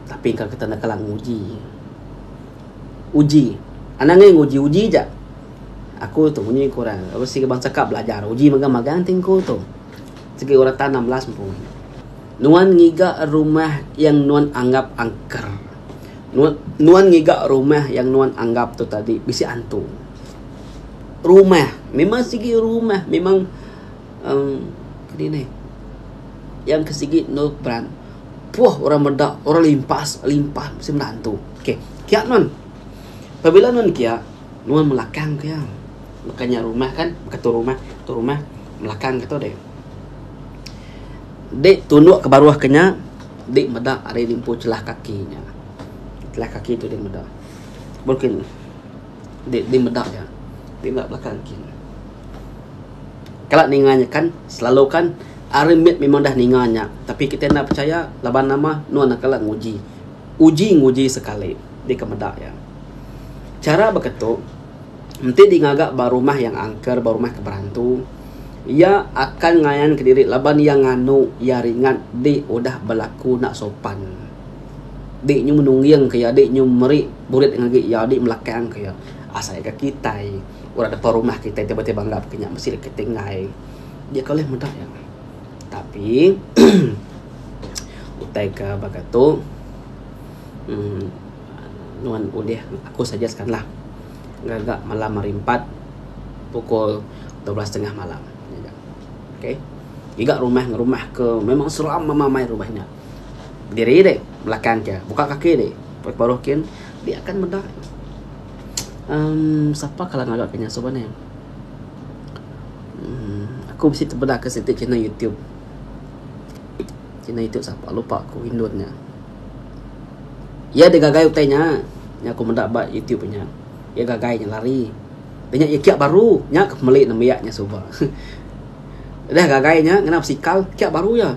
Tapi engka kita enda kala nguji. Uji. Anang aja nguji, uji aja. Aku tu munyi ku orang, aku sigi bansa ka belajar, uji magang-magang ti ku tu. Sigi orang ta 16 empu. Nuan ngiga rumah yang nuan anggap angker. Nuan ngiga rumah yang nuan anggap tu tadi bisi antu. Rumah memang sigi rumah memang uhh dinih yang ke sigi enda beran puh orang meda orang limpas limpas mesti meda antu. Okay kia nuan pabila nuan kia nuan melakang ke iya baka nya rumah kan baka tu rumah tu rumah melakang ke tu deh. Deh tunuk ke baruh ke nya. Dik meda ari limpu celah kaki nya. Celah kaki tu dik meda. Mungkin dik dik meda nya. Dik meda belakang kin. Kala ninga nya kan selalu kan ari mit memang dah ninga nya tapi kitai enda pechaya laban nama nuan nang kala nguji. Uji nguji sekali dik ke meda nya. Chara baka tu. Enti di ngaga ba rumah yang angker ba rumah ke berantu, iya akan ngayan ke diri laban iya nganu iya ringat di udah belaku enda sopan. Di nyu menungging ke iya, di nyu meri burit ngagai iya, di melakang ke iya. Asai ga kitai orang depan rumah kitai tiba-tiba anggap ke nya mesti kitai enggai. Dia kauleh meda iya. Tapi utai ke baka tu uhh. Nuan ulih aku suggest kan lah ngaga malam hari empat pukul dua belas setengah malam ngeja. Okay. Ngiga rumah ngan rumah ke memang seram mama mai rumah nya. Diri dek belakang ke buka kaki dek pekit baruh kin dia akan meda. Um, sapa kala ngaga ke nya suba ne. Um, aku mesti tebeda ke siti channel YouTube. Channel YouTube sapa lupa aku indon nya. Iya digagai utai nya. Nya aku meda ba YouTube inya. Iya gagai nya lari. Dia nya iya kiak baru. Nya aku meli nembiak nya suba. Udah gagai nya ngena besikal kiak baru iya.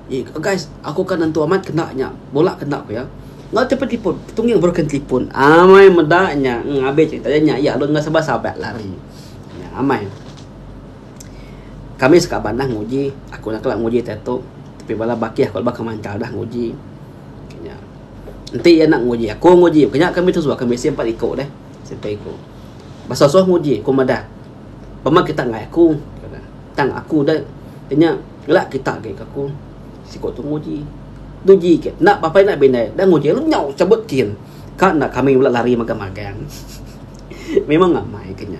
Ih guys aku ka nentu amat kena nya. Bola kena ku iya. Enggau ti pun telefon. Tungi baru ke telefon. Amai meda nya. Abih cerita iya nya. Iya alun enggau Sabah Sabak lari. Nya amai. Kami sekaban dah nguji. Aku enda kala nguji diatu. Tapi bala bakih aku laban ke manchal dah nguji. Nya. Enti iya enda nguji, aku nguji. Ku nya kami tu suba. Kami bisi empat iku deh. Siti ku. Ba suah-suah nguji. Ku madah. Pemah kita enggai aku. Tang aku deh. Ku nya. Ela kita agi ke aku. Siku tu nguji. Tu ji ke. Enda apai enda bindai. Enda nguji. Lalu nyau cabut kin. Ka enda kami bala lari magang-magang. Memang amai ke nya.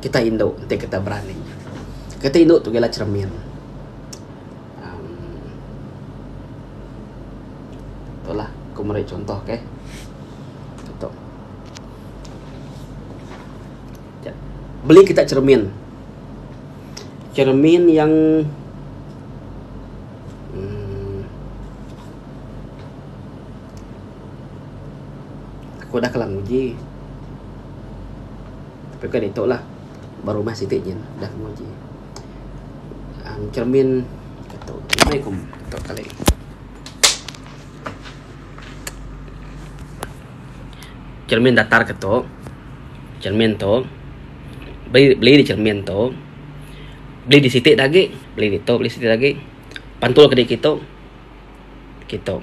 Kita indu ti kita berani. Kita indu tu ialah cermin uhh tu lah aku meri chunto okay. Chunto beli kita cermin, cermin yang uhh Aku udah kala nguji. Tapi bukai ditu lah. Ba rumah siti nyin udah aku nguji. Um cermin tu meh aku tu kali. Cermin datar ke tu. Cermin tu beli beli di cermin tu. Beli di siti agi. Beli ditu beli siti agi. Pantul ke di kitu. Kitu.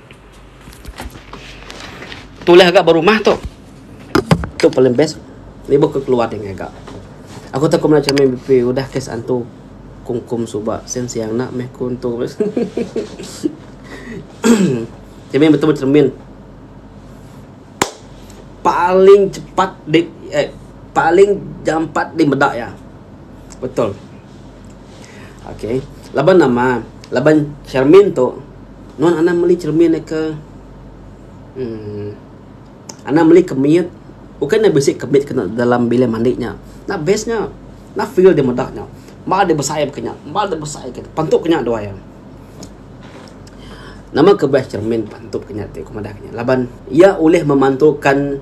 Tulis aja ba rumah tu. Tu paling best. Ibuh ku keluar ding aja. Aku tak kena cermin BP udah kes antu kungkum suba sen siang enda meh ku entu. Cermin betul cermin. Paling cepat di eh, paling jampat di meda iya. Betul. Ok laban nama laban cermin tu nuan anang meli cermin ke uhh anang meli ke mit bukan ne bisi ke mit dalam bilik mandi nya ena best nya ena feel deh meda nya ba deh besai ke nya ba deh besai ke nya pentu ke nya duai em nama ke best cermin pentu ke nya ti ku meda ke nya laban iya ulih memantukan.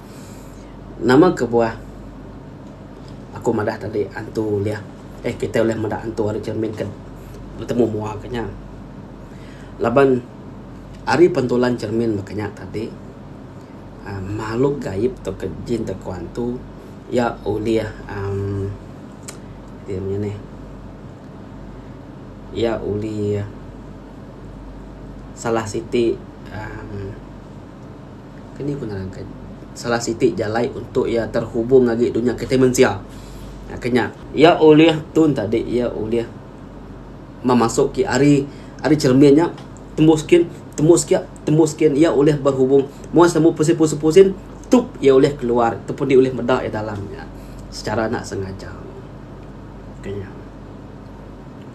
Nama kebuah aku madah tadi antu ulih eh kitai ulih meda antu ari cermin ke betemu mua ke nya laban ari pentulan cermin meh ke nya tadi uhh makhluk gaib tauka jin tauka antu iya ulih uhh ti meh nih iya ulih salah siti uhh Ke ni ku nerangka salah siti jalai untuk iya terhubung agi dunya kitai mensia. Ke nya iya ulih tun tadi iya ulih memasuk ke ari ari cermin nya tembus skin tembus kia tembus skin iya ulih berhubung mung sida mung pusin pusin pusin tup iya ulih keluar ataupun iya ulih meda iya dalam nya secara enda sengaja. Ke nya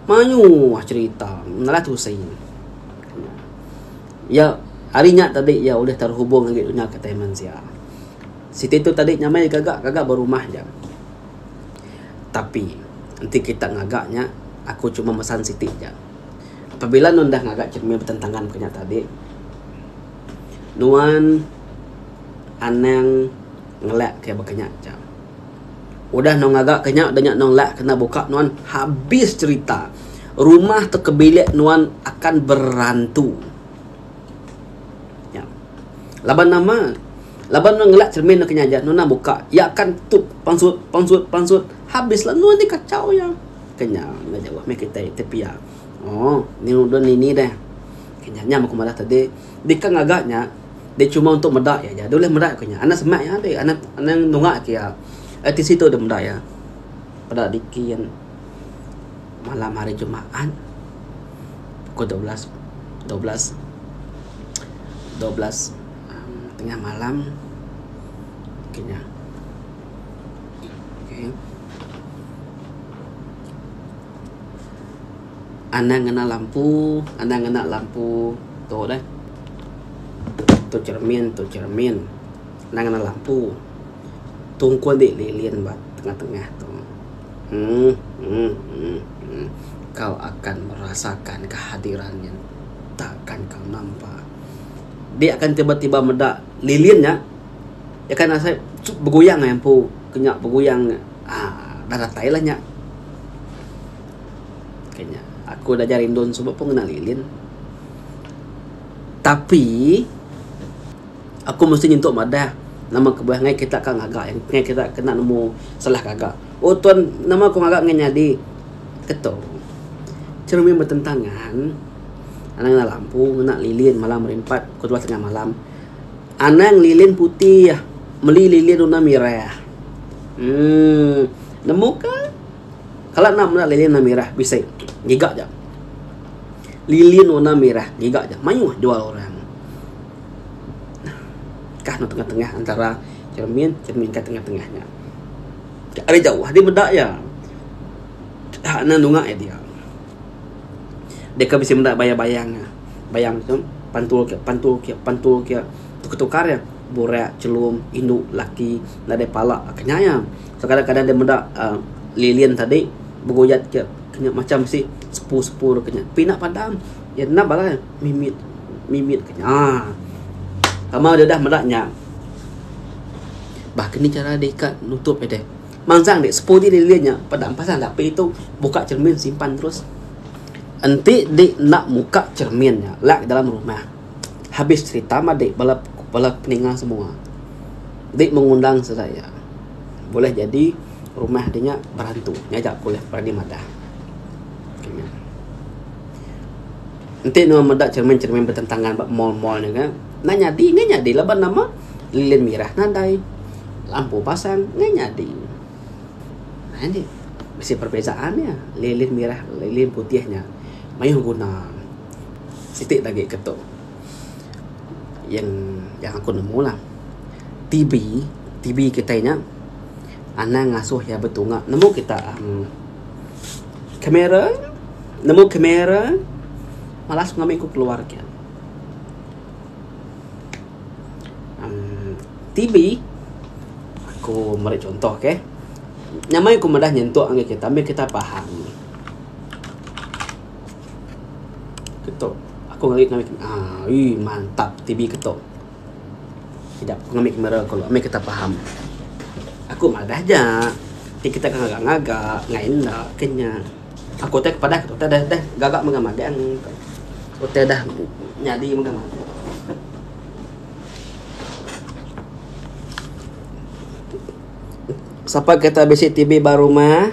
mayuh cherita menalah tusi. Iya, ari nya tadi iya ulih terhubung agi dunya ke tai mensia. Siti tu tadi nyamai ke ga, ke ga ba rumah aja. Tapi, enti kita ngaga nya, aku cuma mesan siti aja. Pabila nuan deh ngaga cermin betentangan ke nya tadi, nuan anang ngelak ke baka nya aja. Udah nong ngaga ke nya denya nong lak kena buka nuan habis cerita rumah te ke bilik nuan akan berantu nya laban nama laban nuan ngelak cermin deka nya nuan nang buka ya akan tup pansut pansut pansut habis la nuan ti kachau ya kenya enda jauh meh kitai ti pia oo ni udon ini deh kenya nya men ku madah tadi deka ngaga nya. Dia cuma untuk meda iya aja. Dia boleh meda ke nya. Anak semak iya ambil. Anak anak nunga ke iya. Eh, di situ dia meda iya. Pada dikin malam hari Jumaat pukul 12 12 12 um, tengah malam kena okay. Anang ngena lampu, anang ngena lampu tu deh. Tu cermin, tu cermin. Anang ngena lampu. Tungkun dik lilin ba tengah tengah tu. Uhh uhh uhh uhh. Kau akan merasakan kehadiran nya tak akan kau nampa. Dik akan tiba tiba meda lilin nya. Dik akan rasa sup begoyang empu. Kenya begoyang nya. Uhh dah datai lah nya. Ke nya. Aku udah ajar indon suba pun ngena lilin. Tapi aku mesti nyentuk madah nama kebuah ngai kita ka ngaga iya ngai kita kena nemu salah gaga. Oh ton nama ku ngaga ngai nyadi ke tu. Cermin betentangan anang ngena lampu ngena lilin malam hari empat pukul dua setengah malam. Anang lilin putih meli lilin warna mirah. Emm nemu ka. Kala enda meda lilin warna merah bisi giga ja. Lilin warna merah giga ja mayuh jual orang. Kah anu tengah-tengah antara cermin, cermin ka tengah-tengah nya. Ka ari jauh adi meda iya. Ka anu nunga iya dia. Deka bisi meda bayang-bayang nya. Bayang tu pantul ke pantul ke pantul ke tukar-tukar iya burak, chelum, indu, laki nadai pala ka nya iya. Sekadang-kadang dia meda lilin tadi beguyat ke kenyat macam bisi sepu-sepu dek kenyat. Pina padam ya nap bala mimit mimit kenyat. Ah. Tama dia dah meda nya. Bah kini cara dia ikat nutup dia deh. Mansang dek sepu di lilin nya padam pasang dah pi tu buka cermin simpan terus. Enti di nak muka cermin nya lak dalam rumah. Habis cerita mah dek bala bala peninga semua. Di mengundang Seraya, bulih jadi rumah di nya berantu ngaja ku ulih berani madah. Enti nuan meda cheremin-cheremin betentangan ba mall-mall nya ga, enda nyadi enda nyadi laban nama lilin mirah nadai, lampu pasang enda nyadi. Haa nih bisi perbezaan nya lilin mirah lilin putih nya mayuh guna siti lagi ke tu. yang yang aku nemu lah TB TB kitai nya anang ngasuh iya betunga nemu kita uhh camera nemu camera malas ku ngambi ku keluar kiye uhh TB aku meri contoh okay nyamai ku meda nyentuk ngagai kita meh kita paham. Ketup. Aku ngeri ngamin kamera. Aii mantap TV ketup. Sida ku ngamin kamera ku lalu amih kitak paham. Aku madah aja ti kitak ke ngaga ngaga ngai enda ke nya. Aku utai ku padah ku utai deh deh gaga mega magang ku. Utai dah nyadi mega magang. Sapa kitak bisi TV ba rumah.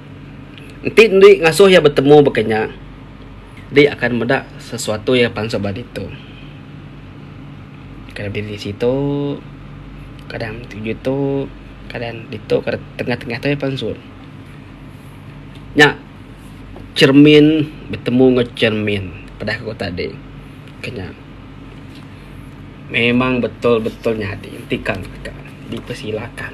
Enti indi ngasuh iya betemu baka nya, indi akan meda sesuatu iya pansut ba ditu. Kadang diri di situ, kadang enti ngitu, kadang ditu, kadang tengah-tengah tu iya pansut. Nya cermin betemu enggau cermin peda ku tadi ke nya memang betul-betul nyadi enti kan dipersilakan.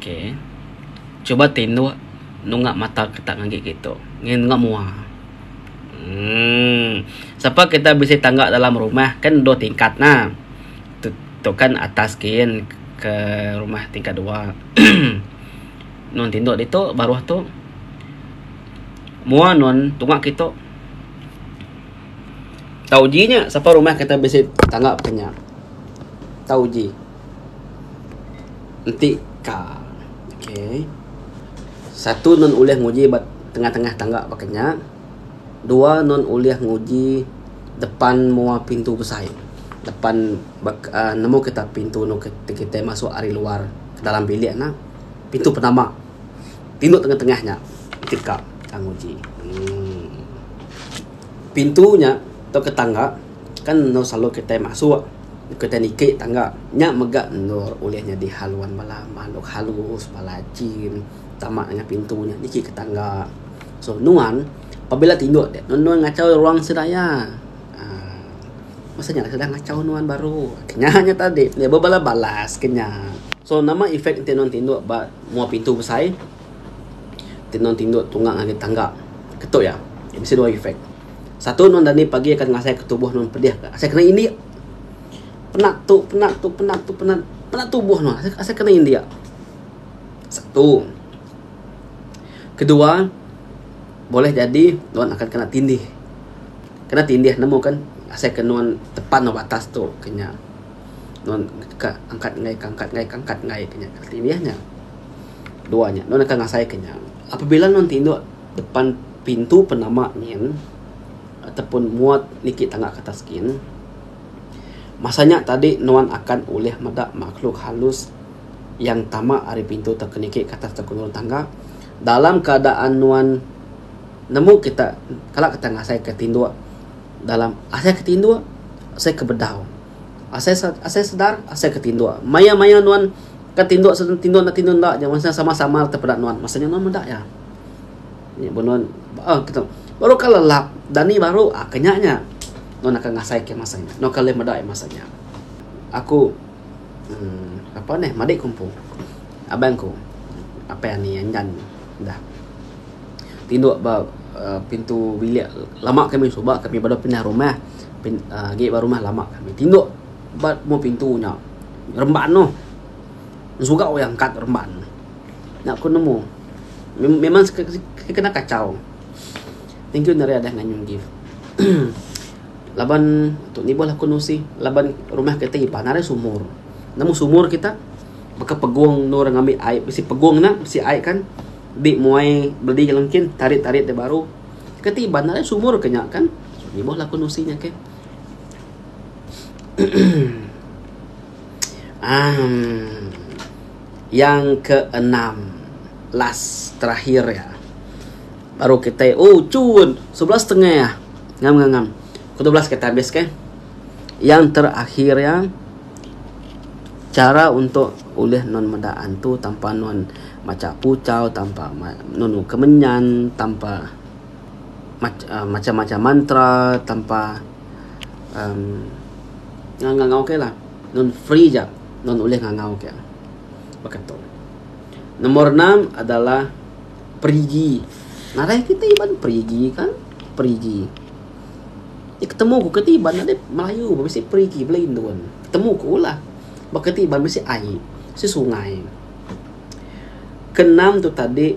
ok cuba tinduk nunga mata kitak ngagai kituk ngin nunga mua umm sapa kitak bisi tangga dalam rumah kan dua tingkat na tu kan atas gin ke rumah tingkat dua nun tinduk ditu baruh tu mua nun tunga kituk tau ji nya sapa rumah kitak bisi tangga kinya tau ji. Enti ka. Okay. Satu nun ulih nguji ba tengah-tengah tangga baka nya. Dua nun ulih nguji depan mua pintu besai. Depan bek uhh nemu kita pintu nuk ti kitai masuk ari luar ke dalam bilik ne. Pintu penama. Pintu tengah-tengah nya ti ka kita nguji. Uhh. Pintu nya tauka tangga. Kan endur selalu kitai masuk, kitai niki tangga. Nya mega endur ulih nyadi haluan bala makhluk halus, bala jin tama ngena pintu nya niki ke tangga. So nuan pabila tingu deh nuan nulung ngachau ruang sida iya uhh masa nya sida ngachau nuan baru. Nya nya tadi bala balas ke nya. So nama efek ti nuan tingu ba mua pintu besai. Tenung tinduk tunggang ngagai tangga. Ketu iya. Iya bisi dua efek. Satu nuan dani pagi akan ngasaika tubuh nuan pedih ka. Asai kena indik. Penat tu, penat tu, penat tu, penat. Penat tubuh nuan. Asai, asai kena indik. Satu. Kedua, boleh jadi nuan akan kena tindih. Kena tindih nemu kan asai ke nuan tepan ba batas tu ke nya. Nuan ka angkat ngai ka angkat ngai ka angkat ngai ka nya. Tindih nya. dua nya nuan akan ngasaika nya apabila nuan ti indu depan pintu penama nyin ataupun muat niki tanga ke atas gin masa nya tadi nuan akan ulih meda makhluk halus yang tama ari pintu tauka niki ke atas tauka nurung tangga dalam keadaan nuan nemu kita kala kita ngasaika tinduk dalam asai ke tinduk asai ke bedau. Asai asai sedar asai ke tinduk. Maya maya nuan ke tinduk senang tinduk enda tinduk enda je masa sama sama te peda nuan masa nya nuan meda iya. Nya ba nuan ah kita baru ka lelap dani baru ah ke nya nya nuan akan ngasai ke masa nya. Nuan akan ulih meda iya masa nya. Aku uhh apa nih madik ku empu abang ku apai ani andan dah tinduk ba uhh pintu bilik lama kami suba kami baru pindah rumah. Pin, uh, agi ba rumah lama kami. Tinduk ba mu pintu nya. Remban noh. Sugau yang angkat remban. Nak ku nemu. Memang kena kacau. Thank you Nari Adah nganyun gift. laban tu ni boh aku nusi laban rumah kita ipan ada sumur nemu sumur kita baka pegung nur ngambil air besi pegung na besi air kan di muai beli lengkin tarik-tarik dia baru ketiban ada sumur kenya kan Ibuh laku nusi nya ke. um, yang ke enam last terakhir ya. Baru kita oh cun sebelas setengah ya. Ngam ngam ngam. Kedua belas kita habis ke. Yang terakhir ya cara untuk ulih non meda antu tanpa non maca pucau tanpa non kemenyan tanpa macam-macam mantra tanpa um, ngangau ke lah. Nun free ja, nun ulih ngangau ke. Baka tu. Nomor enam adalah perigi. Narai kita iban perigi kan? Perigi. Ya, ketemu ku keti iban ada Melayu, mesti perigi belain tuan. Ketemu ku lah. Baka ti iban mesti ai, si sungai. Kenam tu tadi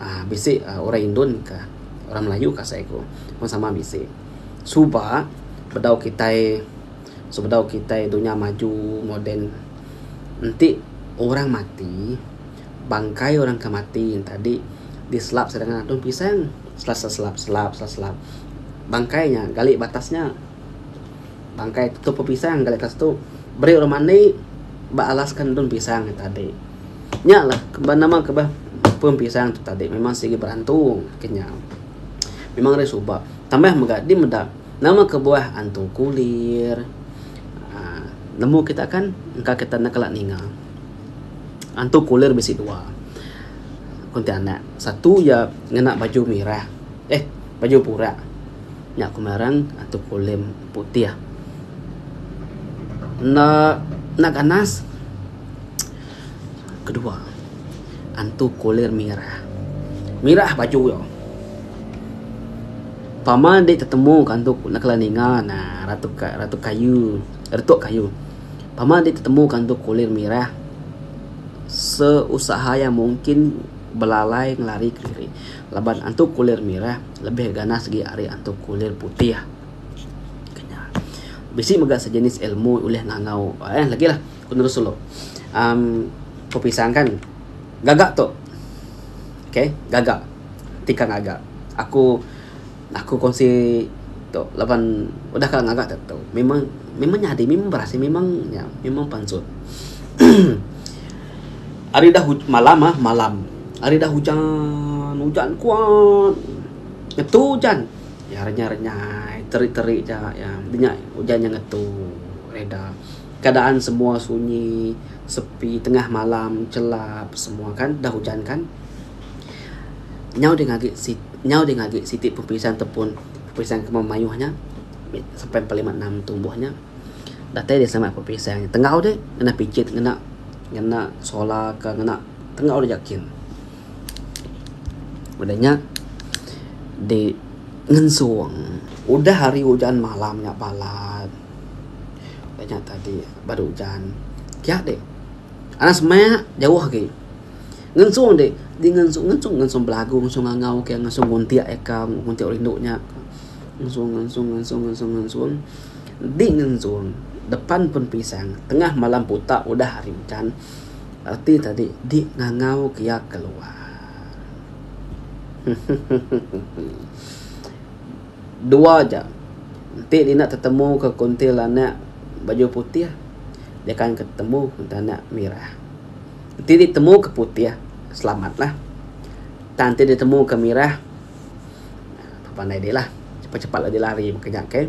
uhh bisi orang indon ka orang melayu ka asai ku pun sama bisi suba bedau kitai sebedau kitai dunya maju moden enti orang mati bangkai orang ke mati tadi diselap sida ngagai antung pisang selap selap selap selap bangkai nya gali batas nya bangkai tutup pisang gali batas tu beri orang mani ba alas ka antung pisang tadi. Nya lah ba nama ke bah pun pisang tu tadi memang sigi berantung ke nya. Memang ari suba. Tambah mega di meda nama kebuah antung kulir. Aaa nemu kita kan engka kita enda kala ninga. Antung kulir bisi dua ku enti anak. Satu iya ngena baju mirah eh baju pura. Nya ku ngaran antung kulir putih. Enda enda ganas. Kedua, antu kulir mirah. Mirah baju iya. Tama enda tetemu ke antu kulir kala ninga ne ratu ratu kayu, retuk kayu. Tama enda tetemu ke antu kulir mirah seusaha iya mungkin belalai ngelari ke diri laban antu kulir mirah lebih ganas agi ari antu kulir putih. Bisi mega sejenis ilmu ulih ngangau. Lagi lah. Penerus sulu. Um, ku pisang kan. Gaga tu. Okay. Gaga. Tika ngaga. Aku, aku kongsi tu. Laban udah ka ngaga tentu. Memang, memang nyadi. Memang berasai. Memang, ya, memang pansut. Hari dah huj, malam ah, malam. Hari dah hujan, hujan kuat. Ngetu hujan. Ya, renyai-renyai. Terik-terik ja, ya. Nya, hujan nya ngetu. Reda. Keadaan semua sunyi, sepi, tengah malam, chelap semua kan udah ujan kan. Nyau deh ngagi nyau deh ngagi siti peperisan tepun peperisan kema mayuh nya sampai empat lima enam tumbuh nya. Datai deh sama peperisan nya. Tenggau deh ngena pijit ngena ngena solar ka ngena tenggau deh jekin. Udah nya di ngensung. Udah hari ujan malam nya balat. Ba nya tadi baru ujan kia deh anak semaya jauh agi ngensung deh ngensung ngensung ngensung belagu ngensung ngangau ke ngensung nguntik eka nguntik rindu nya ngensung ngensung ngensung ngensung ngensung di ngensung depan pun pisang tengah malam buta udah hari ujan reti tadi di ngangau ke iya keluar. Dua ja. Enti dina tetemu ke kuntil anak baju putih, dia akan ke temu kuntil anak mirah. Enti di temu ke putih, selamat lah. Tang enti di temu ke mirah, enda pandai dih lah. Cepat cepat lah dih lari ke nya ke.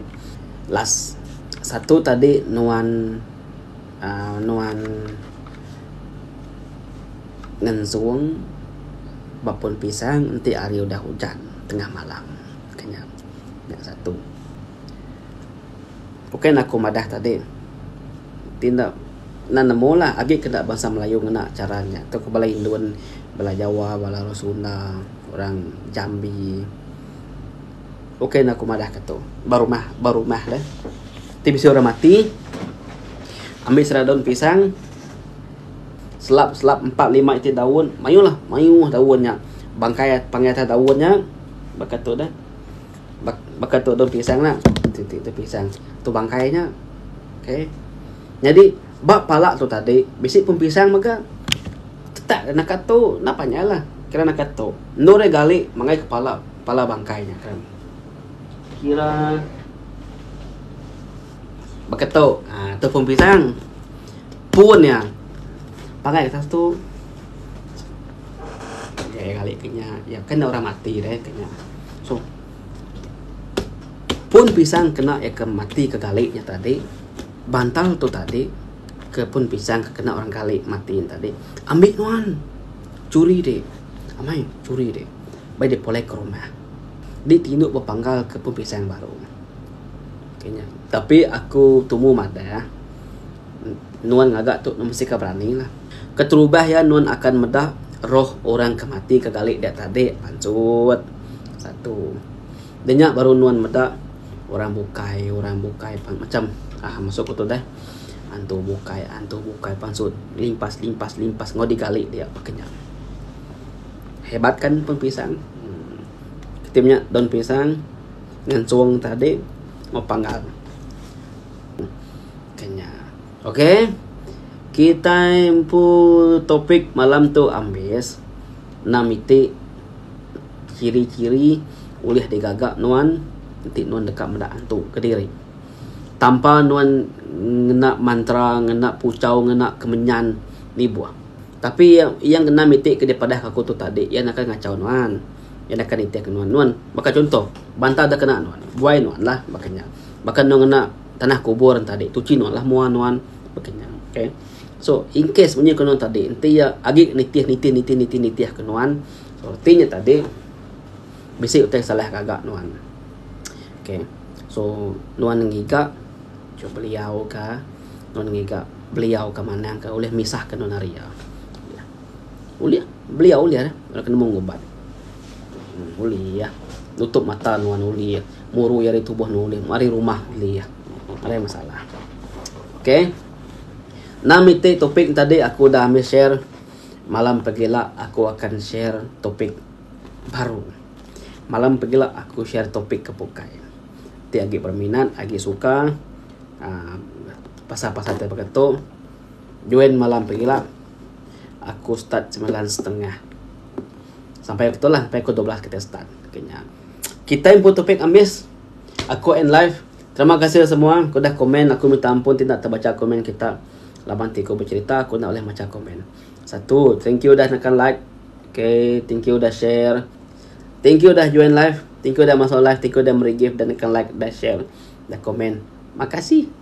Last, satu tadi nuan uhh nuan ngensung ba pun pisang enti hari udah ujan tengah malam. Okey nya. Nya satu. Bukan aku madah tadi. Ti enda nan nemu lah agi ke enda bansa melayu ngena chara nya. Tu ke bala indun, bala jawa, bala orang sunda, orang jambi. Bukan aku madah ke tu. Ba rumah, ba rumah deh. Ti bisi orang mati ambi sera daun pisang selap selap empat lima iti daun mayuh lah mayuh daun nya bangkai pangai atas daun nya. Baka tu dah. Bak, baka tu daun pisang nah. Ti ti tu pisang. Tu bangkai nya. Okay. Nyadi ba pala tu tadi bisi pun pisang mega. Tetak dah naka tu. Napa nya lah. Kira naka tu. Endur iya gali mangai ke pala, pala bangkai nya kan. Kira. Baka tu. Ha, tu pun pisang. Pun ya. Pangai kita tu. Ya, ya kali kenya. Ya, kena orang mati deh kenya. So, pun pisang kena ya ke mati ke kali nya tadi. Bantal tu tadi. Ke pun pisang ke kena orang kali mati tadi. Ambil nuan. Curi deh. Amai, curi deh. Baik deh pulai ke rumah. Di tindu berpanggal ke pun pisang baru. Okay nya. Tapi aku tumu madah nuan ngaga tu nuan mesti ka berani lah. Keterubah iya nuan akan meda roh orang ke mati ke gali dia tadi pancut. Satu. De nya baru nuan meda orang bukai orang bukai macam uhh masu aku tu deh antu bukai antu bukai pancut limpas limpas limpas enggau digali dia pak ke nya. Hebat kan pun pisang. Ti menya daun pisang. Ngentung tadi mau panggal. Kenya. Okey. Kitai empu topik malam tu ambis enam iti ciri-ciri ulih digaga nuan enti nuan deka meda antu kediri. Tanpa nuan ngena mantra, ngena puchau, ngena kemenyan nibuh. Tapi yang enam iti ke dipadah aku tu tadi iya akan ngachau nuan. Iya naka nitihka nuan. Nuan baka chunto, bantal da kena nuan, buai nuan lah baka nya. Baka nuan ngena tanah kubur enti adi, tuchi nuan lah mua nuan baka nya. Okay. So, in case munyi ke nuan tadi, enti iya agi nitih, nitih, nitih, nitih, nitih ke nuan, so, reti nya tadi, bisi utai ke salah ngaga nuan. Okay. So, nuan ngiga ke beliau ka, nuan ngiga beliau ka manang ka ulih misah ka nuan ari iya. Ulih belia ulih eh bala ke nemu ngubat. Ulih eh nutup mata nuan ulih eh murui ari tubuh nuan ulih ari rumah ulih eh ari masalah. Okay. Nama iti topik ne tadi aku udah ambil share malam pagi ila aku akan share topik baru. Malam pagi ila aku share topik ke bukai. Ti agi berminat agi suka uhh pasal-pasal ti baka tu. Join malam pengila, aku start semilan setengah sampai betul lah sampai pukul dua belas kitai start. Okay nya. Kitai empu topik ambis. Aku end live. Terima kasih semua ku dah komen. Aku minta ampun ti enda tebacha komen kita. Laban ti ku becerita aku enda ulih macha komen. Satu, thank you dah nekan like. Okay, thank you dah share. Thank you dah join live. Thank you dah masuk live. Thank you dah meri gift dah nekan like, dah share, dah komen. Makasih.